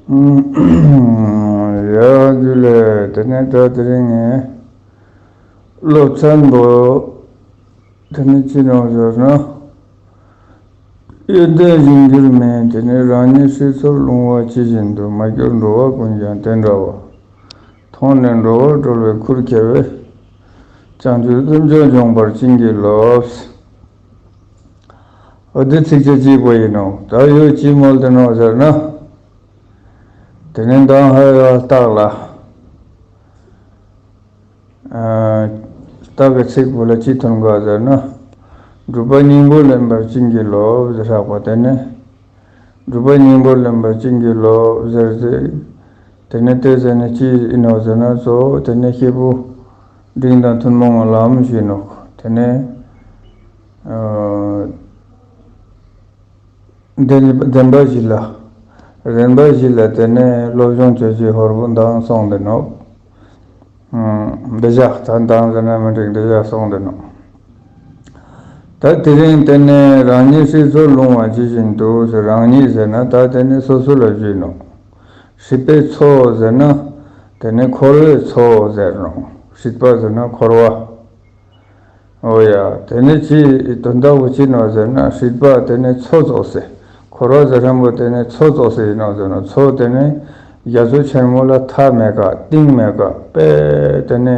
ཡ། རྒྱུད་ལས་དེ་ནས་ད་དེ་རིང་ངས་སློབ་ཚན་དུ། དེ་ནི་ཅི་ནང་ཟེར་ན། ཡོན་ཏན་བཞི་འགྱུར་མིན་དེ་ནི་རང་ཉིད་སྲིད་མཚོར་ལྷུང་བ་ཇི་བཞིན་དུ་མ་གྱུར་འགྲོ་བ་ཀུན་ཀྱང་དེ་འདྲ་བ། མཐོང་ནས་འགྲོ་བ་གྲོལ་བའི་ཁུར་ཁྱེར་བས། བྱང་ཆུབ་སེམས་མཆོག་འབྱོངས་པར་བྱིན་གྱིས་རློབས། ཨོ་དེ་ཚིགས་བཅད་གཅིག་པོ་ཡིན་ནོ། ད་ཡོད་ཅིའི་མོལ་དུ་ནོ་ཟེར་ན། དེ་ནི་མདང་ཧའི་ཡང་རྟགས་ལ། རྟགས་ཀྱི་ཚིག་བོ་ལ་ཅི་མཐུན་དགག་ཟེར་ན། སྒྲུབ་པ་སྙིང་པོ་ལེན་པར་ཅི་འགྱུར་ལོ་ཟེར་ཧྲག་པ་དེ་ནི། སྒྲུབ་པ་སྙིང་པོ་ལེན་པར་ཅི་འགྱུར་ལོ་ཟེར་ཚེ། དེ་ནི་ལྟོས་ཟེར་ནས་ཅི་ཡིན་ནོ་ཟེར་ན་གཙོ་བོ་དེ་ནི་ཤེད་བུ། འབྲིང་དང་ཐུན་མོང་ངང་ལམ་ཞེས་ནོག། དེ་ནས། བདེན་པ་བཞི་ལ། རན་པ་བཞི་ལ་དེ་ནས་སློབ་སྦྱོང་བྱེད་བྱེད་ཧོར་པོ་མདངས་སོང་འདི་ནོག། འདི་བཞག་ད་མདངས་ཟེར་ན་མི་འགྲིག་འདི་བཞག་སོང་འདི་ནོག། ད་དེ་རིང་དེ་ནས་རང་ཉིད་ཧྲིལ་བཟོར་ལྷུང་བ་ཇི་བཞིན་དུ་ཟེར་རང་ཉིད་ཟེར་ན་ད་དེ་ནས་སོ་སོ་ལ་བརྗོད་ནོག། སྲིད་པའི་མཚོ་ཟེར་ན། དེ་ནི་འཁོར་བའི་མཚོ་ཟེར་རོ། སྲིད་པ་ཟེར་ན་འཁོར་བ། འོ་ཡ། དེ་ནི་ཅི་དོན་དག་པོ་ཅི་ནོ་ཟེར་ན་སྲིད་པ་དེ་ནི་མཚོ་རྫོགས་སེ། འཁོར་བ་ཟེར་ཧྲན་པོ་དེ་ནི་མཚོ་རྫོགས་སེ་ཡིན་ནོ་ཟེར་ན་མཚོ་དེ་ནི་རྒྱ་མཚོ་ཆེན་མོ་ལ་མཐའ་མེད་ཀ་ཏིང་མེད་ཀ་དཔེ་དེ་ནི།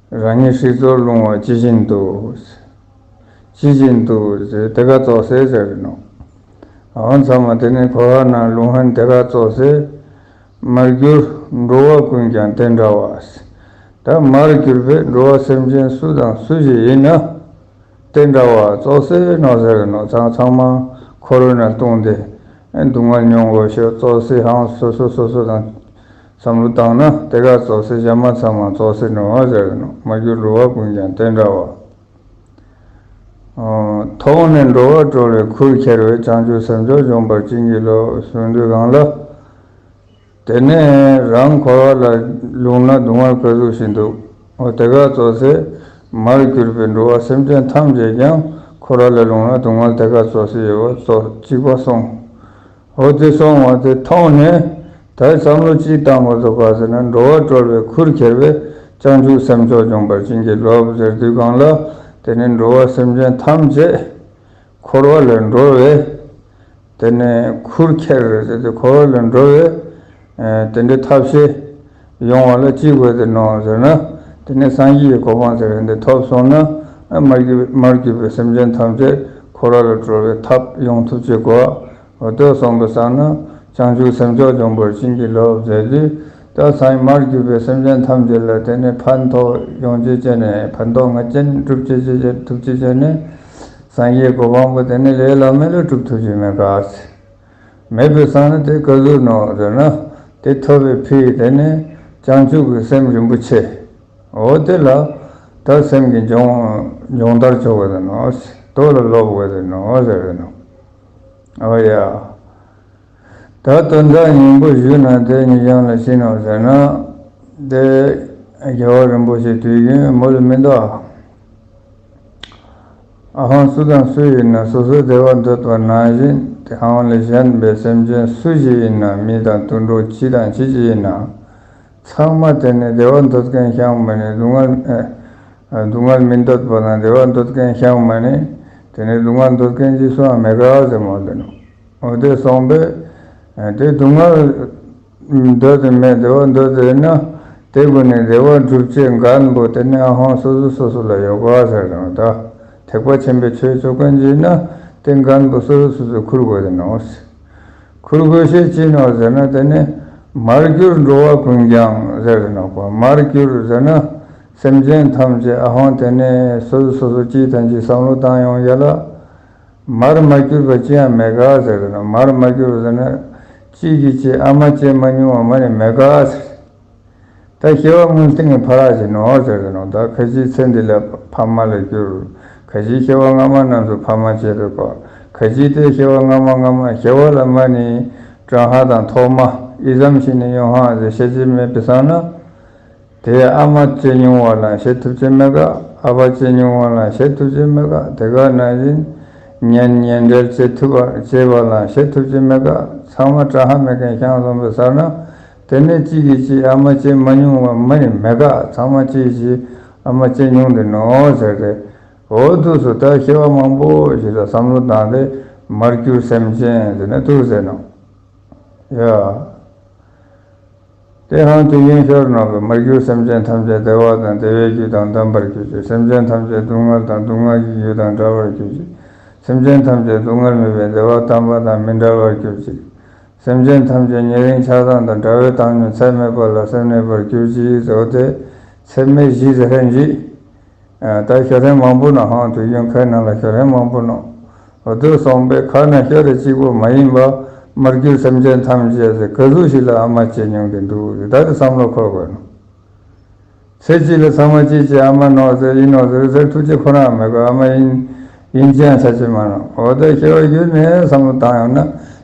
རང་ཉིད་ཧྲིལ་བཙོར་རླུང་བ་ཅི་བཞིན་དུ། ཅི་བཞིན་དུ། དེ་ཁ་བཙོག་སའི་ཟེར་རེད་ནོ། འོ་མཚམས་མ་དེ་ནི་ཁོ་ཧ་ན་ལུང་ཧན་དེ་ཁ་བཙོག་སའི། མར་གྱུར། འགྲོ་བ་ཀུན་ཀྱང་དེ་འདྲ་བ། ད་མར་གྱུར་པའི་འགྲོ་བ་སེམས་ཅན་སུ་དང་སུ་ཞིག་ཡིན་ན། དེ་འདྲ་བ་བཙོག་སའི་ནོ་ཟེར་རེད་ནོ་ཚང་ཚང་མ་ཁོ་རོ་ན་བཏུང་སྟེ། སྡུག་བསྔལ་མྱོང་དགོས་ཤོག་བཙོག་སའི་ཧང་སོ་སོ་སོ་སོ་དང། བསམ་བློ་བཏང་ན་དེ་ག་བཙོག་སའི་བྱ་མ་ཚང་མ་བཙོག་སའི་ནོར་བ་ཟེར་ནོ་མ་གྱུར་འགྲོ་བ་ཀུན་ཀྱང་དེ་འདྲ་བ། ཐོག་མ་ནས་འགྲོ་བ་བཀྲོལ་བའི་ཁུར་འཁྱེར་བས་བྱང་ཆུབ་སེམས་མཆོག་འབྱོངས་པར་བྱིན་གྱིས་རློབས་གསོལ་འདོད་གང་ལ། དེ་ནས་རང་འཁོར་བ་ལ་ལུང་ན་གདུང་བ་ཕོད་གཟུགས་ཤིང་འདུག་ཨོ་དེ་ག་བཙོག་སའི་མར་གྱུར་པའི་འགྲོ་བ་སེམས་ཅན་ཐམས་ཅད་ཀྱང་འཁོར་བ་ལ་ལུང་ན་གདུང་བ་དེ་ག་བཙོག་སའི་ཡོལ་བ་བཙོག་ཅིག་པ་སོང་འོ་དེ་སོང་བ་དེ་མཐོང་ནས་ད་བསམ་བློ་ཅི་བཏང་དགོས་ཐུག་ག་ཟེར་ན་འགྲོ་བ་གྲོལ་བའི་ཁུར་ཁྱེར་བས་བྱང་ཆུབ་སེམས་མཆོག་སྦྱོང་བར་བྱིན་གྱིས་རློབས་ཟེར་དུས་གང་ལ་དེ་ནི་འགྲོ་བ་སེམས་ཅན་ཐམས་ཅད་འཁོར་བ་ལས་འགྲོལ་བས་དེ་ནི་ཁུར་ཁྱེར་ཟེར་དུས་འཁོར་བ་ལས་འགྲོལ་བས། དེ་འདྲའི་ཐབས་ཤེས་ཡོང་བ་ལ་ཅི་དགོས་ཟེར་ནོ་ཟེར་ན། དེ་ནས་སངས་རྒྱས་ཀྱི་གོ་འཕང་ཟེར་བའི་འདི་ཐོབ་སོང་ན། མར་གྱུར་པའི་སེམས་ཅན་ཐམས་ཅད་ཁོ་ར་ལ་གྲོལ་བའི་ཐབས་ཡོང་ཐུབ་ཅེས་གོ། ལྟོས་སོང་པའི་ས་ན་བྱང་ཆུབ་སེམས་མཆོག་འབྱུང་པར་བྱིན་གྱིས་རློབས་མཛད་དུས། ད་སངས་མར་གྱུར་པའི་སེམས་ཅན་ཐམས་ཅད་ལ་དེ་ནས་ཕན་ཐོགས་ཡོང་ཆེད་ཅན་ནས་ཕན་ཐོགས་ངེས་ཅན་སྒྲུབ་བྱེད་ཅེས་བྱ་ཐུབ་བྱེད་ཅན་ནས། སངས་རྒྱས་གོ་འཕང་པོ་དེ་ནི་ལས་བླ་མེད་ལ་གྲུབ་ཐུབ་བྱེད་མེད་གཱ། མེད་པའི་སང་ནི་དེ་ཀ་ཟུར་ནོ་ཟེར་ན་དེ་ཐོབ་པའི་ཕི་དེ་ནི་བྱང་ཆུབ་ཀྱི་སེམས་རིན་པོ་ཆེ་འོ་དེ་ལ་དག་སེམས་ཀྱི་འབྱུང་འབྱུང་ལྟར་ཆོག་ག་ཟེར་ནོ་དོ་ལ་སློབ་བོ་ག་ཟེར་ནོ་ཟེར་བས་ནོ། འོ་ཡ། ད་དོན་དག་སྙིང་པོ་ཞུས་ན་དེ་ཉིད་བྱང་ལ་ཕྱིན་ནོ་ཟེར་ན། དེ་རྒྱལ་བ་རིན་པོ་ཆེ་དུས་རྒྱུན་མོ་ལ་མི་འདའ། ཨ་ཧོང་སུ་དང་སུ་ཡིན་ན་སོ་སོའི་བདེ་བ་འདོད་པ་ནང་བཞིན་དེ་ཨ་ཧོང་ལས་གཞན་པའི་སེམས་ཅན་སུ་ཞིག་ཡིན་ན་མི་དང་དུད་འགྲོ་ཅི་དང་ཅི་ཞིག་ཡིན་ནའང་ཚང་མ་དེ་ནི་བདེ་བ་འདོད་མཁན་ཤང་མི་ནི་སྡུག་བསྔལ་སྡུག་བསྔལ་མི་འདོད་པ་དང་བདེ་བ་འདོད་མཁན་ཤང་མི་ནི་དེ་ནི་སྡུག་བསྔལ་འདོད་མཁན་གྱི་སུའང་མེད་ག་ཟེར་མོད་དེ་ནོ། འོ་དེ་སོང་པས་དེ་སྡུག་བསྔལ། འདོད་དེ་མེད་བདེ་བ་འདོད་དེ་ན་དེ་ཀུན་ནས་བདེ་བ་འགྲུབ་ཅེས་འགའ་ན་པོ་དེ་ནས་ཧང་སོ་སོ་སོ་སོ་ལ་ཡོ་ག་ཟེར་རང་བདག་ཐེག་པ་ཆེན་པོའི་ཆོས་ཚོགས་ཀུན་གྱིས་ན་དེ་འགའ་ན་པོ་སོ་སོ་སོ་སོའི་ཁུར་དགོས་དེ་ནོ། ཁུར་དགོས་ཤེས་ཅི་ནོ་ཟེར་ན་དེ་ནི་མར་གྱུར་འགྲོ་བ་ཀུན་ཀྱང་ཟེར་རེ་ན་པོ་མར་གྱུར་ཟེར་ན་སེམས་ཅན་ཐམས་ཅད་ཨ་ཧོང་དེ་ནས་སོ་སོ་སོ་སོ་སྐྱིད་དང་ཅི་བསམ་བློ་བཏང་ཡོང་ཡ་ལ། མར་མ་གྱུར་པ་ཅི་ཡང་མེད་གཱ་ཟེར་དགོས་ན་མར་མ་གྱུར་བ་ཟེར་ན། ཅིས་ཀྱིས་ཅེས་ཨ་མ་ཅེས་མ་ཉུང་བ་མ་ནི་མེད་གཱ་ཟེར། ད་སྐྱེ་བ་སྔོན་སྟེང་གི་ཕ་རགས་བཞིན་ནོ་ཟེར་དགོས་ན་ད་ཁ་ཅིའི་ཚེ་འདི་ལ་ཕ་མ་ལ་གྱུར། ཁ་ཅིའི་སྐྱེ་བ་སྔ་མ་རྣམས་སུ་ཕ་མ་སྐྱེས་པས་པཱ། ཁ་ཅིའི་ལྟའི་སྐྱེ་བ་སྔ་མ་སྔ་མ་སྐྱེ་བ་ལ་མ་ནི། ཀྲང་ཧྭ་དང་ཐོག་མ་ཨི་ཟམ་ཤིང་ནི་ཡོན་ཧྭ་ཟེར་ཤེས་ཀྱི་མེད་པས་སང་ན། དེ་ཡང་ཨ་མ་སྐྱེས་མྱོང་བ་ལ་བྱེད་ཐུབ་ཀྱི་མེད་ག་ཨ་ཕ་སྐྱེས་མྱོང་བ་ལ་བྱེད་ཐུབ་ཀྱི་མེད་ག་དེ་ག་ནང་བཞིན་ཉན་ཉན་འགྲེལ་བྱེད་ཐུབ་པ་བྱེད་པ་ལ་བྱེད་ཐུབ་ཀྱི་མེད་ག་ཚང་མ་བཀྲ་ཧ་མེད་མཁན་ཤང་བཟང་པོའི་སར་ན་དེ་ནས་གཅིག་གིས་གཅིག་ཨ་མ་སྐྱེས་མ་མྱོང་བ་མ་ཡིན་མེད་ག་ཚང་མ་གཅིག་གིས་གཅིག་ཨ་མ་སྐྱེས་མྱོང་གི་ནོ་ཟེར་ཏེ་འོ་ཐུགས་སུ་ད་ཤེས་པ་མང་པོ་ཞིག་ལ་བསམ་བློ་བཏང་སྟེ་མར་གྱུར་སེམས་ཅན་དེ་ནི་ཐུགས་ཟད་ནོ། དེ་ཧང་དེ་གཡོན་ཤོར་ནང་གི་མར་གྱུར་སེམས་ཅན་ཐམས་ཅད་བདེ་བ་དང་བདེ་བའི་རྒྱུ་དང་ལྡན་པར་གྱུར་ཅིག་སེམས་ཅན་ཐམས་ཅད་སྡུག་བསྔལ་དང་སྡུག་བསྔལ་གྱི་རྒྱུ་དང་འདྲ་བར་གྱུར་ཅིག་སེམས་ཅན་ཐམས་ཅད་སྡུག་བསྔལ་མེད་པའི་བདེ་བ་དམ་པ་དང་མི་འདྲ་བར་གྱུར་ཅིག་སེམས་ཅན་ཐམས་ཅད་ཉེ་རིང་ཆགས་སྡང་དང་དགྲ་བོའི་བཏང་སྙོམས་ཚད་མེད་པ་ལ་སེམས་གནས་པར་གྱུར་ཅིག་ཟོ་དེས་ཚད་མེད་བཞི་ཟ་ཧྲན་བཞི། ད་ཞོ་རེངས་མང་པོ་ནང་ཧང་དུས་གཡོན་ཁའི་ནང་ལ་ཞོ་རེངས་མང་པོ་སྣང། བསྡོད་སོང་པའི་ཁ་ན་ཞོ་རེ་གཅིག་པོ་མ་ཡིན་པ། མར་གྱུར་སེམས་ཅན་ཐམས་ཅད་ཟེར་ག་ཟུག་ཞིག་ལ་ཨ་མ་བྱེད་མྱོང་གི་འདུག་འདི་ལྟར་བསམ་བློ་འཁོར་དགོས་སྣང། ཚེ་གཅིག་ལ་ཚང་མ་གཅིག་བྱས་ཨ་མ་ནོར་ཟེར་ཡིན་ནོར་ཟེར་ཟེར་ཐུགས་རྗེ་ཁོ་རང་མེད་གི་ཨ་མ་ཡིན། ཡིན་ཅན་ཚ་ཆེ་མ་གནང་འོ་ད་ཤི་བ་བརྒྱུད་ནས་བསམ་བློ་བཏང་ཡོང་ན་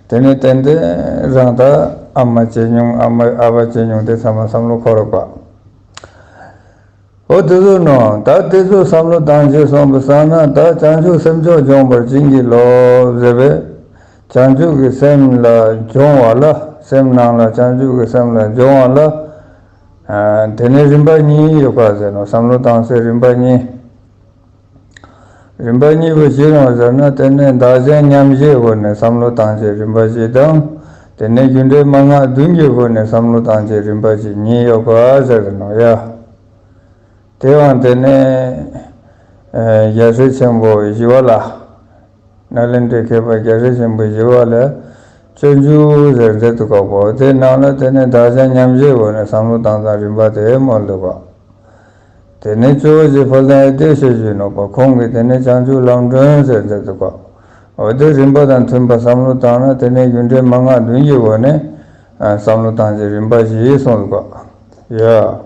དེ་ནས་ཏན་ཏན་རང་ད་ཨ་མ་བྱེད་མྱོང་ཨ་མ་ཨ་ཕ་བྱེད་མྱོང་དེ་ཚང་མ་བསམ་བློ་འཁོར་དགོས། ཨོ་དེ་ཚོའི་ནང་ད་དེ་ཚོས་བསམ་བློ་བཏང་ཞེས་སོང་པའི་སང་ན་ད་བྱང་ཆུབ་སེམས་མཆོག་སྦྱོང་བར་བྱིན་གྱིས་རློབས་ཟེར་བས། བྱང་ཆུབ་ཀྱི་སེམས་ལ་སྦྱོང་བ་ལ་སེམས་སྣང་ལ་བྱང་ཆུབ་ཀྱི་སེམས་ལ་སྦྱོང་བ་ལ། དེ་ནས་རིམ་པ་གཉིས་ཡོད་པ་ཟེར་ནོ་བསམ་བློ་བཏང་སའི་རིམ་པ་གཉིས། རིམ་པ་གཉིས་པོ་ཅི་རང་ཟེར་ན་དེ་ནི་བདག་གཞན་མཉམ་བཞེས་ཧོ་ནི་བསམ་བློ་བཏང་བྱའི་རིམ་པ་བཞི་དང། དེ་ནས་རྒྱུ་འབྲས་མ་སྔགས་བདུན་གྱི་ཧོ་ནི་བསམ་བློ་བཏང་བྱའི་རིམ་པ་བཞི་གཉིས་ཡོད་པ་ཟེར་ནོ། ཡ། དེའང་དེ་ནི། རྒྱལ་སྲས་ཆེན་པོ་བཞི་བ་ལ། ནཱ་ལེནྡྲའི་མཁས་པ་རྒྱལ་སྲས་ཆེན་པོ་བཞི་བ་ལ། སྤྱོད་འཇུག་ཟེར་མཛད་དུ་བཀག་པའོ་དེ་རྣམས་ལ་དེ་ནི་བདག་གཞན་མཉམ་བཞེས་ཧོ་ནི་བསམ་བློ་བཏང་ཙང་རིམ་པ་དེ་མོར་འདོད་པ། དེ་ནས་ཆོས་འོད་ཀྱི་ཕོ་བྲང་ཨེ་ཏའི་ཞལ་བཞུགས་གནང་བ་ཁོང་གིས་དེ་ནས་བྱང་ཆུབ་ལམ་སྒྲོན་ཟེར་མཛད་འདུག་པ། འོད་དེ་རིམ་པ་དང་མཐུན་པ་བསམ་བློ་བཏང་ན་དེ་ནས་རྒྱུ་འབྲས་མ་སྔགས་བདུན་གྱི་འོད་ནི། བསམ་བློ་བཏང་རྗེས་རིམ་པ་བཞི་གསུངས་འདུག་པ། ཡ།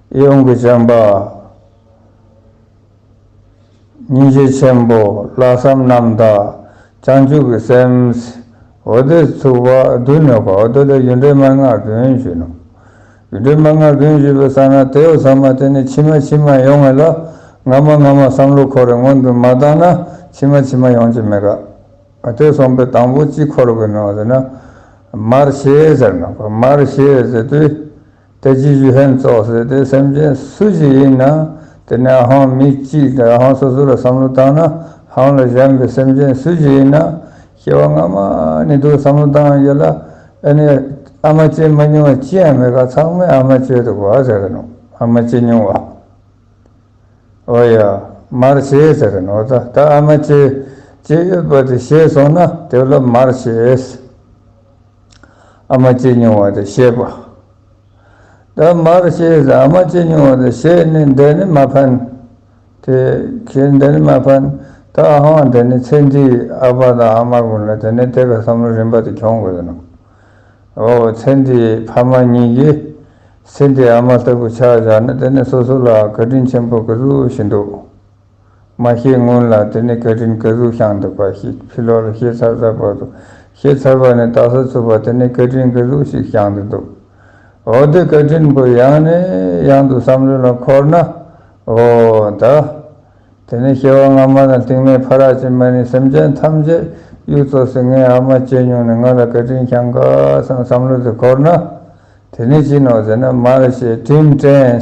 ཨེ་ཡོང་གི་བྱམས་པ། སྙིང་རྗེ་ཆེན་པོ། ལྷག་བསམ་རྣམ་དག། བྱང་ཆུབ་ཀྱི་སེམས། འོ་དོད་ཚུགས་པ། བདུན་ནོ། འོ་དོད་ལ་ཡུལ་འདྲེན་མན་ངག་བདུན་བཞི་ནོ། ཡུལ་འདྲེན་མན་ངག་བདུན་བཞི་པའི་ས་ན་དེ་ཨོ་ས་མ་དེ་ནི་ཕྱི་མ་ཕྱི་མ་ཡོང་ངེས་ལ། སྔ་མ་སྔ་མ་བསམ་བློ་འཁོར་བའི་སྔོན་དུ་མ་བཏང་ན་ཕྱི་མ་ཕྱི་མ་ཡོང་གྱི་མེད། ཨོ་དོད་གསུམ་པའི་དང་པོ་གཅིག་འཁོར་དགོས་ནོ་ཟེར་ན། མར་ཤེས་ཟེར་ནོ། མར་ཤེས་ཟེར་དུས། དེ་ཅི་ཞིག་ཕན་ཐོགས་ཟེར་ཏེ་སེམས་ཅན་སུ་ཞིག་ཡིན་ན་དེ་ནས་ཧང་མི་གཅིག་དང་ཧང་སོ་སོ་ལ་བསམ་བློ་བཏང་ན་ཧང་ལ་བཞམས་པའི་སེམས་ཅན་སུ་ཞིག་ཡིན་ན་སྐྱེ་བ་སྔ་མ་ནས་འདུག་བསམ་བློ་བཏང་ཡོད་ལ་ཨེ་ནས་ཨ་མ་སྐྱེས་མ་མྱོང་བ་ཅི་ཡང་མེད་ཁ་ཚང་མས་ཨ་མ་སྐྱེས་འདུག་བ་ཟེར་གི་ནོ་ཨ་མ་སྐྱེས་མྱོང་བ་ཨོ་ཡ་མར་བྱེད་ཟེར་གི་ནོ་ད་ལྟ་ཨ་མ་སྐྱེས་སྐྱེས་ཡོད་པ་དེ་ཤེས་སོང་ན་དེ་ལ་མར་བྱེད། ཨ་མ་སྐྱེས་མྱོང་བ་དེ་ཤེས་པ། ད་མར་ཤེས་ཟ་ཨ་མ་སྐྱེས་མྱོང་བ་དེ་ཤེས་ནི་འདི་ནི་མ་ཕན། དེ་ཁྱེད་འདི་ནི་མ་ཕན། ད་ཨ་ཧོང་དེ་ནི་ཚེ་འདིའི་ཨ་ཕ་དང་ཨ་མར་མིན་ལ་དེ་ནི་དེ་ག་བསམ་བློ་རིམ་པ་དེ་གྱོང་དགོས་ཀྱི་འདུག་ཨོ་ཚེ་འདིའི་ཕ་མ་གཉིས་ཀྱིས་ཚེ་འདིའི་ཨ་མ་ལྟ་བུ་ཆགས་བཞག་ན་དེ་ནི་སོ་སོ་ལའང་བཀའ་དྲིན་ཆེན་པོ་གི་ཟུག་བཞིན་འདུག་མ་ཤེས་སྔོན་ལ་དེ་ནི་སྐད་འཕྲིན་སྐད་གཟུགས་བྱང་འདུག་པ་ཞིག་ཕྱི་ལོགས་ལ་ཤེས་ཚར་ཚར་བར་དུ་ཤེས་ཚར་བ་ནི་རྟགས་སུ་ཚུད་པ་དེ་ནི་སྐད་འཕྲིན་སྐད་གཟུགས་ཤིག་བྱང་དུ་འདུག་འོ་དེ་སྐད་འཕྲིན་པོ་ཡང་ནས་ཡང་དུ་བསམ་བློ་ལ་འཁོར་ན་འོ་ད། དེ་ནི་སྐྱེ་བ་སྔ་མ་དང་རྟིང་མའི་ཕ་རགས་ཀྱི་མ་ནི་སེམས་ཅན་ཐམས་ཅད་གཡུག་བཙོ་ཟིན་ངའི་ཨ་མ་སྐྱེས་མྱོང་ནས་ང་ལ་སྐད་འཕྲིན་བྱང་ག་སང་བསམ་བློ་དེ་འཁོར་ན་དེ་ནི་ཅི་ནོ་ཟེར་ན་མར་ཤེས་འཕྲིན་ཕྲན།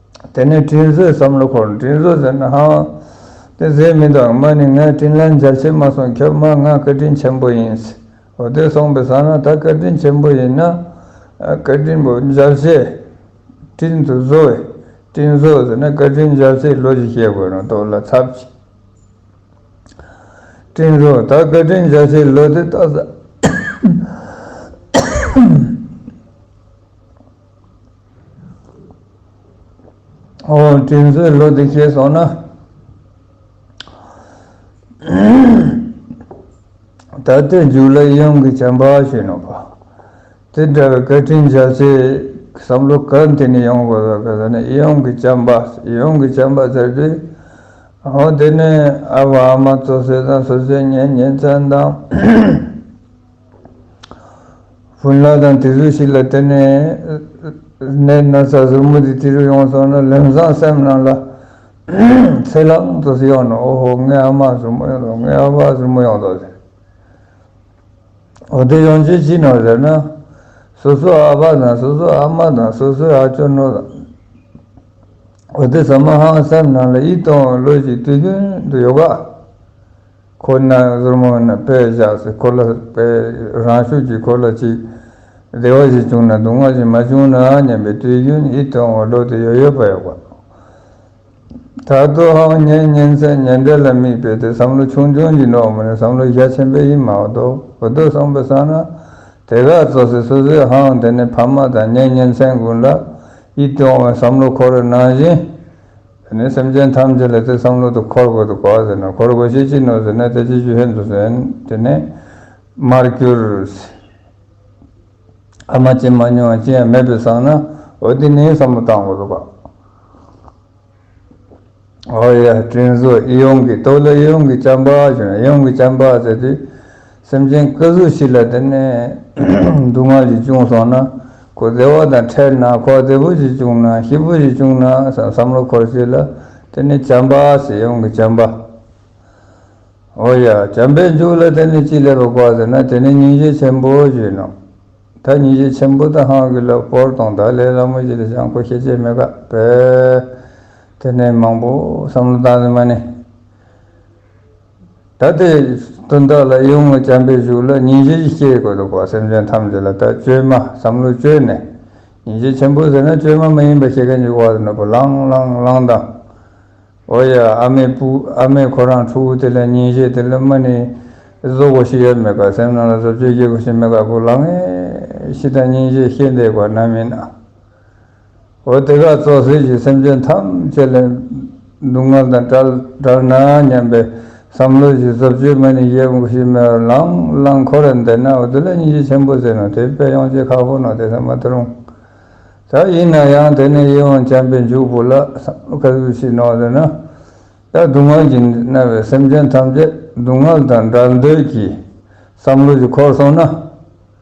དེ་ནས་དྲིན་གཟོའི་བསམ་བློ་འཁོར་དྲིན་གཟོ་ཟེར་ན་ཧ། དེ་ཟེར་མི་འདུག་ཨ་མ་ནི་ངའི་དྲིན་ལན་འཇལ་བྱེད་མ་སོང་ཁྱོད་མ་ང་བཀའ་དྲིན་ཆེན་པོ་ཡིན། འོ་དེ་སོང་པའི་ཟ་ན་ད་བཀའ་དྲིན་ཆེན་པོ་ཡིན་ན། བཀའ་དྲིན་པོ་འཇལ་བྱེད། དྲིན་དུ་གཟོ་བས་དྲིན་གཟོ་ཟེར་ན་བཀའ་དྲིན་འཇལ་བྱེད་ལོ་བཞི་ཤེས་དགོས་རང་ལྟོགས་ལ་ཚབ་ཆེ། དྲིན་གཟོ་ད་བཀའ་དྲིན་འཇལ་བྱེད་ལོ་དེ་ལྟ་ཟ། ཨོ་དྲིན་གཟོའི་ལོ་དེ་བྱས་སོང་ན། ད་ལྟའི་མཇུག་ལ་གཡང་གི་བྱམས་པ་བྱས་ནོ་པ། དེ་འདྲ་བའི་བཀའ་དྲིན་བྱ་ཚེ་བསམ་བློ་ག་དེ་ནས་ཡོང་དགོས་པ་ག་ཟེར་ན་གཡང་གི་བྱམས་པ་གཡང་གི་བྱམས་པ་ཟེར་དུས། ཨོ་དེ་ནས་ཨ་བ་ཨ་མ་ཚོ་བསོད་ནམས་བསོད་བསོད་ཉེན་ཉེན་ཚན་དང། བུན་ལག་དང་དེ་ཟུར་ཞིག་ལ་བསྟན་ནས། གནས་ན་ཚ་ཟུར་མོ་དེ་དེ་རུ་ཡོང་སོང་ན་ལེམ་བཟང་སེམས་གནང་ལ། ཚེ་ལག་ཚོ་སི་ཡོང་ནོ་ཨོ་ཧོ་ངའི་ཨ་མ་ཟུར་མོ་ཡོང་འདོག་ངའི་ཨ་ཕ་ཟུར་མོ་ཡོང་འདོག་ཟེར། འོ་དེ་ཡོང་རྗེས་ཅི་གནང་ཟེར་ན། སོ་སོའི་ཨ་ཕ་དང་སོ་སོའི་ཨ་མ་དང་སོ་སོའི་ཨ་ཅོ་ནོར་དང། འོ་དེ་ཟ་མ་ཧང་སེམས་གནང་ལ་ཡིད་རྟོན་བའི་བློ་ཞིག་དུས་རྒྱུན་དུ་ཡོད་ག། ཁོ་ན་གཟུར་མོ་ནི་དཔེ་བཞག་སའི་འཁོར་ལོ་དཔེ་རང་ཤུགས་ཀྱི་འཁོར་ལོ་ཅིག། བདེ་བ་བཞི་བྱུང་ན་སྡུག་བསྔལ་བཞི་མ་བྱུང་ན་སྙམ་པའི་དུས་རྒྱུན་ཡིད་དུ་འོང་བ་བློ་དེ་ཡོད་ཡོད་པ་ཡོད་པ། ད་དུ་ཧང་སྙན་སྙན་ཚད་ཉེ་འབྲེལ་ལ་དམིགས་པའི་དེ་བསམ་བློ་ཆུང་ཆུང་གྱི་ནོར་བུ་ནི་བསམ་བློའི་གཞའ་ཆེན་པོའི་ཡིན་མ་གཏོགས་འོ་དོད་སོང་པའི་ས་ན་དེ་ག་ཚོད་སྲིད་སོ་སོའི་ཧང་དེ་ནི་ཕ་མ་དང་སྙན་སྙན་ཚད་ཀུན་ལ་ཡིད་དུ་འོང་བའི་བསམ་བློ་ཁོ་རེ་ནང་བཞིན། དེ་ནས་སེམས་ཅན་ཐམས་ཅད་ལ་དེ་བསམ་བློ་དུ་འཁོར་དགོས་དུ་གོ་ཟེར་ན་འཁོར་དགོས་ཤེས་ཅི་ནོ་ཟེར་ན་དེ་ཅི་ཞུ་ཧེ་འདུག་ཟེར་དེ་ནས། མར་གྱུར། ཨ་མ་ཅི་མ་ཉོ་ཅི་ཡང་མེད་པས་བསམ་ན་འོ་དེ་ནས་བསམ་བློ་བཏང་དགོས་དུ་གོ། ཨོ་ཡ། དྲིན་གཟོ་ཨེ་ཡོང་གི་ཏོ་ལོ་ཨེ་ཡོང་གི་ཅམ་པ་ཞུ་ན་ཨེ་ཡོང་གི་ཅམ་པ་ཟེར་དུས། སེམས་ཅན་སྐུ་གཟུགས་ཞིག་ལ་བལྟས་ནས། སྡུག་བསྔལ་ཞིག་བྱུང་སོང་ན། ཁོ་བདེ་བ་དང་ཕྲད་ན་ཁོ་བདེ་པོ་ཞིག་བྱུང་ན་ཤི་བོ་ཞིག་བྱུང་ན་སང་བསམ་བློ་འཁོར་ཞིག་ལ། དེ་ནི་བྱམས་པ་ཞེས་ཡོང་གི་བྱམས་པ། ཨོ་ཡ། བྱམས་པའི་མཇུག་ལ་དེ་ནི་ཅི་ལས་པ་བཀག་ཟེར་ན་དེ་ནི་ཉིན་བྱེད་ཆེན་པོ་ཞེས་ཡིན་ནོ། ད་ཉིན་བྱེད་ཆེན་པོ་དང་ཧང་གི་ལ་སྤོར་དང་དག་ལས་སླ་མོ་ཞིག་ལ་བྱང་ཁོ་ཤེས་བྱེད་མེད་ག་བལ། དེ་ནས་མང་པོ་བསམ་བློ་བཏང་ཟིན་མ་ནི། ད་ལྟའི་དོན་དག་ལ་ཡོངས་ལ་བྱམས་པས་བཞུགས་ལ་ཉིན་བྱེད་ཀྱི་སྐྱེ་དགོས་འདུག་པ་སེམས་ཅན་ཐམས་ཅད་ལ་ད་བཅོས་མ་བསམ་བློ་བཅོས་ནས་ཉིན་བྱེད་ཆེན་པོ་ཟེར་ན་བཅོས་མ་མ་ཡིན་པ་བྱེད་མཁན་གྱི་དབར་དུ་ནོར་བུ་ལང་ལང་ལང་དང། འོ་ཡ་ཨ་མའི་བུ་ཨ་མས་ཁོ་རང་ཕྲུ་གུ་དེ་ལ་ཉིན་བྱེད་དེ་ལ་མ་ནི་བཟོ་དགོས་ཤིག་ཡ་མེད་ཀ་སེམས་ནང་ལ་བཟོ་བཅོས་བགྱིད་དགོས་ཤིག་མེད་ཀ་བུ་ལང་ངས་ཤི་དང་ཉིན་བྱེད་ཤེས་འདས་དགོས་ན་མིན་ན། འོ་དེ་ག་ཙོག་ཟིལ་གྱིས་སེམས་ཅན་ཐམས་ཅད་ལས་སྡུག་བསྔལ་དང་བྲལ་བྲལ་ན་སྙམ་པའི་བསམ་བློ་བཞིན་རྫོབ་ཆོས་མ་ནི་གཞི་དབང་བཞི་མེད་པར་ལང་ལང་འཁོར་རེ་འདས་ན་འོ་དེ་ལས་སྙིང་རྗེ་ཆེན་པོ་ཟེར་ནོ་དེའི་དཔེ་ཡང་ཅི་ཁག་པོ་ནོ་དེ་ཟ་མ་ཏི་རུང་ད་ཡིན་ན་ཡང་དེ་ནི་ཡིད་དབང་བྱམས་པའི་འཇུག་པོ་ལ་བསམ་བློ་ག་ཚོད་བྱས་ནོ་ཟེར་ན་ཡང་སྡུག་བསྔལ་གྱིས་མནར་བའི་སེམས་ཅན་ཐམས་ཅད་སྡུག་བསྔལ་དང་བྲལ་འདོད་ཀྱི་བསམ་བློ་གྱིས་འཁོར་སོང་ན།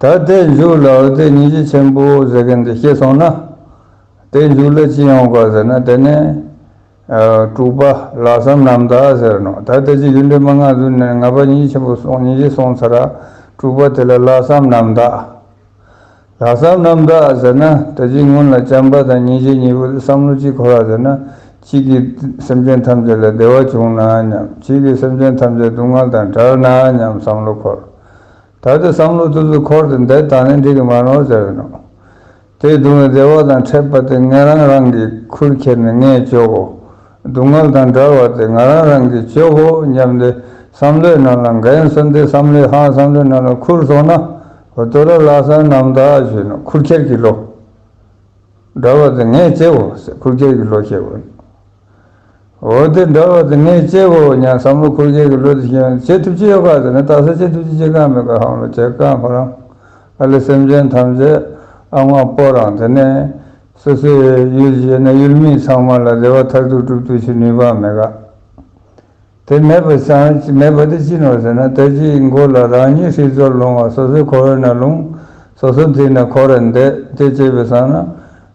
ད་ལྟའི་མཇུག་ལ་འོད་གསལ་ཉིད་ཀྱི་ཆེན་པོ་ཟེར་མཁན་དེ་ཤེས་སོང་ན། དེའི་མཇུག་ལ་ཅི་ཡོང་དགོས་ཟེར་ན་དེ་ནི། དྲུག་པ། ལྷག་བསམ་རྣམ་དག་ཟེར་ནོ། ད་ལྟའི་ཆོས་རྒྱུད་འདྲེས་མ་སྔ་ཟུར་ནས་ལྔ་པ་ཉིད་ཀྱི་ཆེན་པོ་སོང་ཉིད་ཀྱི་སོང་ཚར། དྲུག་པ་དེ་ལ་ལྷག་བསམ་རྣམ་དག། ལྷག་བསམ་རྣམ་དག་ཟེར་ན་དེ་བཞིན་སྔོན་ལ་བྱམས་པ་དང་སྙིང་རྗེ་གཉིས་པོ་དེ་བསམ་བློ་ཅིག་འཁོར་བ་ཟེར་ན་གཅིག་གིས་སེམས་ཅན་ཐམས་ཅད་ལ་བདེ་བ་བྱུང་ན་སྙམ་གཅིག་གིས་སེམས་ཅན་ཐམས་ཅད་སྡུག་བསྔལ་དང་བྲལ་ན་སྙམ་བསམ་བློ་འཁོར། ད་ལྟའི་བསམ་བློ་སྟོད་ཚུར་འཁོར་ཏེ་འདས་དང་ལེན་འགྲིག་གི་མ་ནོར་བྱ་ཡིན་ནོ། དེས་གདུང་བའི་བདེ་བ་དང་ཕྲད་པ་དེ་ངས་རང་རང་གིས་ཁུར་ཁྱེར་ནས་ངས་གཅོག་གོ། སྡུག་བསྔལ་དང་འདྲར་བ་དེ་ང་རང་རང་གིས་གཅོག་གོ་སྙམ་སྟེ་བསམ་བློའི་ནང་ལ་འགན་སྲུང་སྟེ་བསམ་བློའི་ཧང་བསམ་བློའི་ནང་ལ་ཁུར་སོང་ན། དོ་ར་ལག་སང་ནམ་ཟླ་བཞིན་ནོ་ཁུར་ཁྱེར་གྱི་བློ། འདྲར་བ་དེ་ངས་བཅད་གོ་ཟེར་ཁུར་ཁྱེར་གྱི་བློ་སྐྱེ་དགོས། འོ་དེ་འདྲ་བ་དེ་ངས་སྤྱད་བོ་སྙམ་བསམ་བློ་འཁོར་རྒྱལ་གྱི་བློ་དེ་ཤེས་ན་བྱེད་ཐུབ་ཅི་ཡོད་ག་ཟེར་ན་དྭགས་སར་བྱེད་ཐུབ་ཅི་བྱེད་གང་མེད་ག་ཧང་ལོ་བྱེད་ག་ཁོ་རང་ཨ་ལེ་སེམས་ཅན་ཐམས་ཅད་ཨ་དབང་པོ་རང་དེ་ནས་སོ་སོའི་ཡུལ་བྱེད་ན་ཡུལ་མི་ཚང་མ་ལ་བདེ་བ་མཐར་ཐུག་སྒྲུབ་ཐུབ་ཅི་ནུས་པ་མེད་ག། དེ་མེད་པ་ཅང་མེད་པ་དེ་ཅི་ནོ་ཟེར་ན་དལ་གྱིས་མགོ་ལ་རང་ཉིད་ཧྲིལ་བཟོར་ལྷུང་བ་སོ་སོའི་ཁོ་བོས་ན་ལྷུང། སོ་སོ་འདི་ན་ཁོ་ར་འདས་དེ་སྐྱེས་པའི་སང་ན།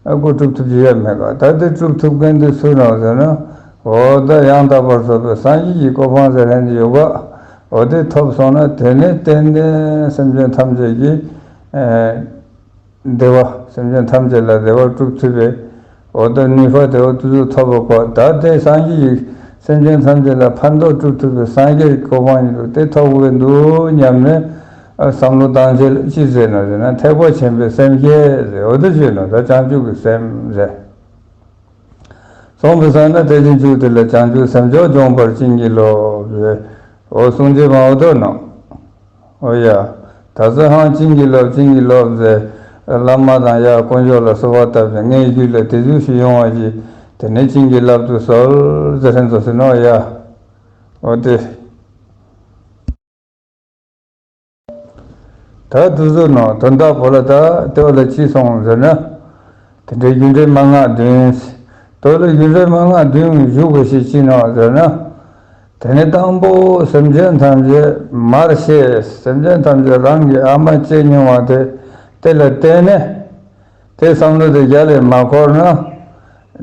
ཨ་ཁུ་སྒྲུབ་ཐུབ་ཀྱི་ཡ་མེད་ག་ད་དེ་སྒྲུབ་ཐུབ་མཁན་དེ་སུ་ནོ་ཟེར་ན། འོ་ད་ཡང་དག་པར་བཟོ་པའི་སངས་རྒྱས་ཀྱི་གོ་འཕང་ཟེར་ལན་དེ་ཡོད་ག། འོ་དེ་ཐོབ་སོང་ན་དེ་ནས་ཏན་ཏན་སེམས་ཅན་ཐམས་ཅད་ཀྱིས། བདེ་བ་སེམས་ཅན་ཐམས་ཅད་ལ་བདེ་བ་སྒྲུབ་ཐུབ་པའི་འོ་དོ་ནི་ཧོ་དེ་འོ་དུ་ཟུག་ཐོབ་པ་ཁོ་ད་ལྟའི་སངས་རྒྱས་ཡིག་སེམས་ཅན་ཐམས་ཅད་ལ་ཕན་འདོགས་སྒྲུབ་ཐུབ་པའི་སངས་རྒྱས་ཀྱི་གོ་འཕང་ཡིན་འདུག་དེ་ཐོབ་དགོས་འདུག་སྙམ་ནས་བསམ་བློ་བཏང་རྗེས་ཅི་ཟེར་ན་ཟེར་ན་ཐེག་པ་ཆེན་པོའི་སེམས་སྐྱེ་ཟེར་འོ་དོ་བཅོས་ན་ད་བྱང་ཆུབ་ཀྱི་སེམས་ཟེར། གསུངས་པའི་ས་ན་དེ་བྱང་ཆུབ་དེ་ལ་བྱང་ཆུབ་སེམས་མཆོག་འབྱོངས་པར་བྱིན་གྱིས་རློབས། འོ་གསུངས་རྗེས་མ་འོ་དོ་ནང། ཨོ་ཡ། ད་གཟོད་ཧང་བྱིན་གྱིས་རློབས་བྱིན་གྱིས་རློབས། བླ་མ་དང་ཡང་དཀོན་མཆོག་ལ་གསོལ་བ་བཏབ་ཅིང་ངའི་རྒྱུད་ལ་དེ་ཚུལ་ཞིག་ཡོང་བར་གྱིས། དེ་ནས་བྱིན་གྱིས་བརླབ་ཏུ་གསོལ། ཧྲན་ཏུ་ཟིན། ཨོ་ཡ། ཨོ་དེ། ད་དུ་ཟོ་ནོ། དོན་དག་བོ་ལ་ད་ལྟའི་བར་ལ་ཅི་སོང་ཟེར་ན། དེ་འདྲའི་རྒྱུ་འབྲས་མན་ངག་བདུན། དོ་ལོ་རྒྱུ་འབྲས་མན་ངག་བདུན་བཞུགས་པ་ཞིག་ཅི་ནོ་ཟེར་ན། དེ་ནས་དང་པོ་སེམས་ཅན་ཐམས་ཅད་མར་ཤེས་སེམས་ཅན་ཐམས་ཅད་རང་གི་ཨ་མ་ལྕེ་ཉུང་བ་དེ་དེ་ལ་བརྟེན་ནས། དེའི་བསམ་བློ་དེ་རྒྱ་ལས་མ་འཁོར་ན།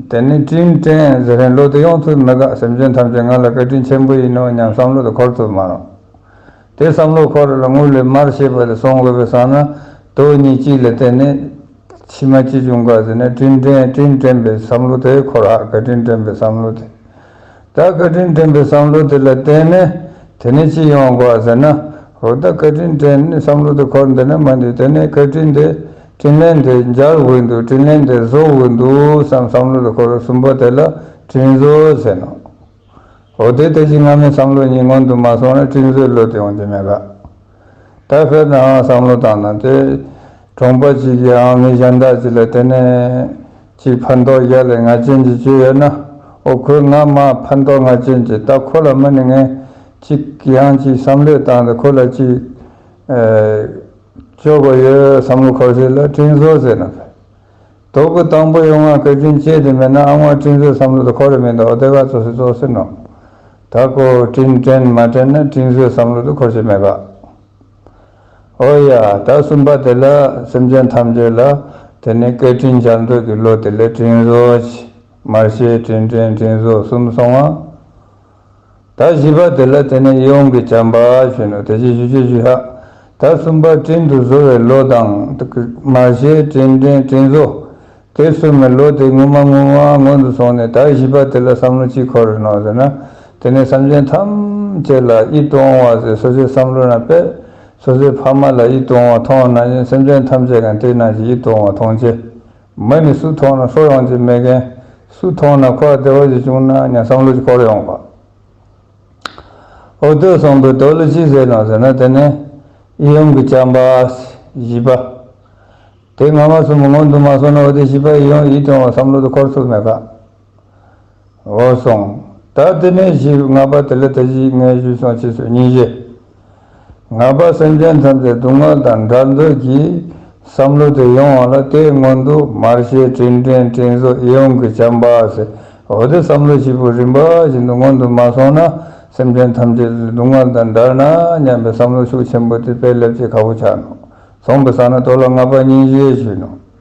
དེ་ནི་ཀྲིན་ཀྲན་ཟེར་བའི་བློ་དེ་ཡོང་ཐུབ་མི་དགའ་སེམས་ཅན་ཐམས་ཅད་ང་ལ་བཀའ་དྲིན་ཆེན་པོ་ཡིན་ནོ་སྙམ་བསམ་བློ་དེ་འཁོར་ཐུབ་མ་རུང། དེའི་བསམ་བློ་འཁོར་ལ་དངུལ་ལས་མར་ཤེས་པ་དེ་སོང་དགོས་པའི་སང་ན་དོ་གཉིས་གཅིག་ལ་བརྟེན་ནས། ཕྱི་མ་ཅི་བྱུང་ག་ཟེར་ནས་ཀྲིན་ཀྲན་ཀྲིན་ཀྲན་པའི་བསམ་བློ་དེ་འཁོར་ཨ་ཀ་ཀྲིན་ཀྲན་པའི་བསམ་བློ་དེ། ད་བཀའ་དྲིན་དྲན་པའི་བསམ་བློ་དེ་ལ་བརྟེན་ནས་དེ་ནས་ཅི་ཡོང་དགོས་ཟེར་ན། འོ་ད་བཀའ་དྲིན་དྲན་བསམ་བློ་དེ་འཁོར་འདི་ན་མ་འདུག་དེ་ནས་བཀའ་དྲིན་དེ་དྲིན་ལན་དེ་འཇལ་དགོས་འདུག་དྲིན་ལན་དེ་བཟོ་དགོས་འདུག་བསམ་བསམ་བློ་དེ་འཁོར་གསུམ་པོ་དེ་ལ་དྲིན་བཟོ་ཟེར་ནོ། འོ་དེ་ལྟ་ཅི་སྔ་མའི་བསམ་བློ་ཉིད་སྔོན་དུ་མ་སོང་ན་དྲིན་བཟོའི་བློ་དེ་ཡོང་རྒྱུ་མེད་ག། ད་ཕེབས་ནའང་བསམ་བློ་བཏང་ན་དེ། གྲོང་པ་གཅིག་གིའང་མི་གཞན་དག་ཅིག་ལ་བརྟེན་ནས། གཅིག་ཕན་ཐོགས་བཞག་ལས་ངར་ཅན་གྱི་སྤྱོད་ཡོད་ན། ཨོ་ཁོས་ང་མ་ཕན་ཐོགས་ངར་ཅན་གྱི་ད་ཁོ་ལ་མི་ནི་ངས། གཅིག་གིའང་གཅིག་བསམ་བློས་བཏང་ཏེ་ཁོ་ལ་གཅིག། སྤྱོད་དགོས་ཡོད་བསམ་བློ་འཁོར་ཚེ་ལ་སྤྲིན་བཟོ་ཟེར་ན་ཕེབས། དོག་གི་དང་པོ་ཡོང་ང་གལ་ཆེན་ཅན་དེ་མེད་ན་ཨ་དབང་བཀྲིན་བཟོའི་བསམ་བློ་དེ་ཁོ་རེ་མེད་འདུག་ཨོ་དེ་ག་ཚོད་སི་ཚོགས་སི་ནོ་ད་ཀོ་བཀྲིན་དྲན་མ་དྲན་ན་བཀྲིན་བཟོའི་བསམ་བློ་དེ་ཁོ་ཆེ་མེད་ག་ཨོ་ཡ་ད་གསུམ་པ་དེ་ལ་སེམས་ཅན་ཐམས་ཅད་ལ་དེ་ནི་སྐད་བཀྲིན་བྱ་འདོད་ཀི་བློ་དེ་ལས་བཀྲིན་བཟོ་ཆེ་མར་ཤེས་བཀྲིན་དྲན་བཀྲིན་བཟོ་གསུམ་སོང་ང། ད་བཞི་པ་དེ་ལ་དེ་ནས་ཡོངས་ཀྱི་བྱམས་པ་བྱིན་ནོ་དེ་བཞིན་བཞུ་བྱེད་བཞུ་ཧ། ད་གསུམ་པ་སྤྲིན་དུ་བཟོ་བའི་བློ་དང། མ་ཤའི་སྤྲིན་སྤྲིན་སྤྲིན་བཟོ། དེ་གསུམ་མི་བློ་དེ་ངུ་མ་ངུ་མ་སྔོན་དུ་སོང་ནས་ད་བཞི་པ་དེ་ལ་བསམ་བློ་ཅི་འཁོར་རེ་གནང་ཟེར་ན། དེ་ནས་སེམས་ཅན་ཐམས་ཅད་ལ་ཨི་སྟོང་བ་ཟེར་སོ་སོའི་བསམ་བློ་རྣམས་པས་སོ་སོའི་ཕ་མ་ལ་ཨི་སྟོང་བ་མཐོང་ན་ཡང་སེམས་ཅན་ཐམས་ཅད་གང་དེ་རྣམས་ཀྱིས་ཨི་སྟོང་བ་མཐོང་ཆེ། མི་ནི་སུ་མཐོང་ན་ཧྲོག་ཡོང་ཅེས་སྨྲས། གན་སུ་མཐོང་ན་ཁོ་ལ་བདེ་བ་ཞིག་བྱུང་ན་ཡང་བསམ་བློ་ཅིག་འཁོར་ཡོང་བ། འོ་དོད་གསུངས་པའི་དོད་ལ་ཅི་ཟེར་ནོ་ཟེར་ན་དེ་ནི། ཡུམ་གྱི་བྱམས་པ། བཞི་པ། དེ་སྔ་མ་སོན་པ་སྔོན་དུ་མ་སོང་ན་འོ་དེ་བཞི་པ་ཡིས་ཡོང་ཡིད་སྐྱོང་བ་བསམ་བློ་དེ་འཁོར་ཐུབ་མེད་ཀ། འོ་སོང། ད་དེ་ནས་བཞི་ལྔ་པ་དེ་ལ་ད་གཞི་ལྔའི་བཞི་སོང་ཕྱི་སོ་གཉིས་བཞི། ལྔ་པ་སེམས་ཅན་ཐམས་ཅད་སྡུག་བསྔལ་དང་འདྲ་འདོད་ཀྱི་བསམ་བློ་དེ་ཡོང་བ་ལ་ལྟའི་སྔོན་དུ་མར་ཤེས་དྲིན་དྲན་དྲིན་གཟོ་གཡོན་གྱི་བྱམས་པ་སེ་འོ་དེ་བསམ་བློ་བཞི་པོ་རིམ་པ་བཞིན་དུ་སྔོན་དུ་མ་སོང་ན་སེམས་ཅན་ཐམས་ཅད་སྡུག་བསྔལ་དང་འདྲ་ན་སྙམ་པའི་བསམ་བློ་ཤུགས་ཆེན་པོ་དེ་དཔེ་ལེབ་ཀྱི་ཁ་བོ་ཆགས་ནོ། ཚོང་པའི་ས་ན་ལྟོ་ལ་ལྔ་པ་གཉིས་བཞི་བཞི་ནོ།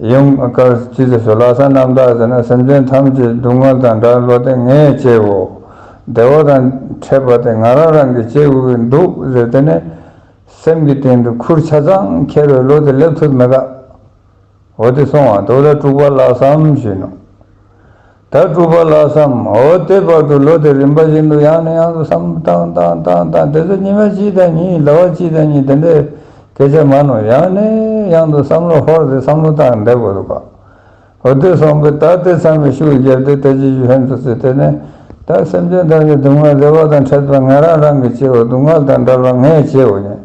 ཡུམ་དཀར་སྤྱི་ཟེར་སོ་ལ་ས་རྣམ་དག་ཟེར་ན་སེམས་ཅན་ཐམས་ཅད་སྡུག་བསྔལ་དང་དགྲ་བློ་ལྡན་ངས་བཅེའོ། བདེ་བ་དང་ཕྲད་པ་དེ་ང་རང་རང་གིས་བཅེས་འོས་འདུག་ཟེར་དེ་ནས། སེམས་ཀྱི་སྟེང་དུ་ཁུར་ཆ་ཚང་འཁྱེར་བའི་བློ་དེ་སླེབས་ཐུབ་མི་དགའ། འོ་དེ་སོང་བ་འདུག་ལ་དཀྲུགས་པ་ལགས་སམ་ཞུས་ནོ། ད་སྤྲུལ་པ་ལགས་སམ། འོ་དེ་བར་དུ་ལོ་དེ་རིམ་པ་བཞིན་དུ་ཡང་ནས་ཡང་དུ་བསམ། དང་དང་དང་དང་དེ་ཚོ་ཉི་མ་གཅིག་དང་གཉིས་ཟླ་བ་གཅིག་དང་གཉིས་དེ་འདྲའི་སྐད་ཆ་མ་ནོར་ཡང་ནས་ཡང་དུ་བསམ་བློ་ཧོར་དེ་བསམ་བློ་བཏང་བསྡད་དགོས་འདུག་ག། འོ་དེ་སོང་པས་ད་དེ་ཚང་མས་ཤུགས་བརྒྱབ་སྟེ་ད་ཅི་ཞུ་ཧན་དུ་བརྩིས་དེ་ནས། ད་སེམས་ཅན་དག་གི་སྡུག་བསྔལ་བདེ་བ་དང་འཕྲད་པས་ང་རང་རང་གིས་བྱེད་འོ་སྡུག་བསྔལ་དང་འདྲ་བར་ངས་བྱེད་འོ་ཉན།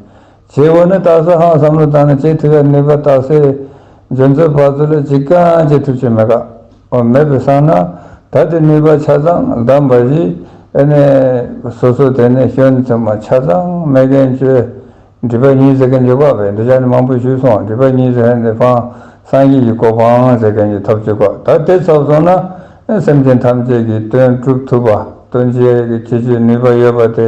བྱེད་པོ་ནི་རྟགས་གསལ་ཧང་བསམ་བློ་བཏང་ནས་བྱེད་ཐུབ་པའི་ནུས་པ་རྟགས་གསལ། འཇོན་རྩོལ་བག་རྩོལ་ལ་ཅི་གང་བྱེད་ཐུབ་ཆེད་མེད་ཀ་བ་མེད་པའི་སང་ན། ད་དེ་ནུས་པ་ཆ་ཚང་བདམས་པ་བཞི། ཨེ་ནས། སོ་སོ་དེ་ནས་ཤོན་བཙུན་མ་ཆ་ཚང་མེད་མཁན་བཅོལ། འདྲི་བ་གཉིས་ཟེར་མཁན་གྱི་བཀའ་བས་འདི་ཅག་ནི་མང་པོས་ཞུས་སོང་འདྲི་བ་གཉིས་ཟེར་མཁན་དེ་ཕང་སངས་རྒྱས་ཀྱི་གོ་འཕང་ཟེར་མཁན་གྱི་ཐོབ་བྱེད་ཀ་ད་དེ་ཚོགས་སོང་ན། སེམས་ཅན་ཐམས་ཅད་ཀྱི་དོན་བསྒྲུབ་ཐུབ་པ་དོན་བྱེད་ཀྱི་ཆོས་ནུས་པ་ཡོད་པ་དེ་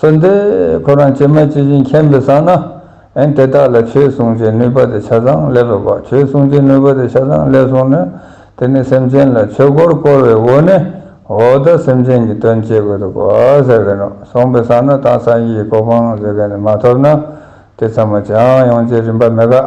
གསོལ་འདེབས་ཁོ་རང་བྱེ་མ་ཇི་བཞིན་མཁྱེན་པའི་ས་ན། ཨན་དེ་དག་ལ་ཆོས་གསུང་བྱེད་ནུས་པ་དེ་ཆ་ཚང་སླེབས་པ་དགོས་ཆོས་གསུང་བྱེད་ནུས་པ་དེ་ཆ་ཚང་སླེབས་སོང་ནས་དེ་ནས་སེམས་ཅན་ལ་ཆོས་འཁོར་བསྐོར་བའི་འོ་ནས་འོ་ད་སེམས་ཅན་གྱི་དོན་བྱེད་དགོས་འདུག་གོ་ཟེར་གི་ནོ་སོང་པའི་ས་ན་དང་སངས་རྒྱས་ཀྱི་གོ་འཕང་ཟེར་གི་ནི་མ་ཐོབ་ན་དེ་ཚང་མ་ཅང་ཡོང་བྱེད་རིན་པ་མི་དགའ།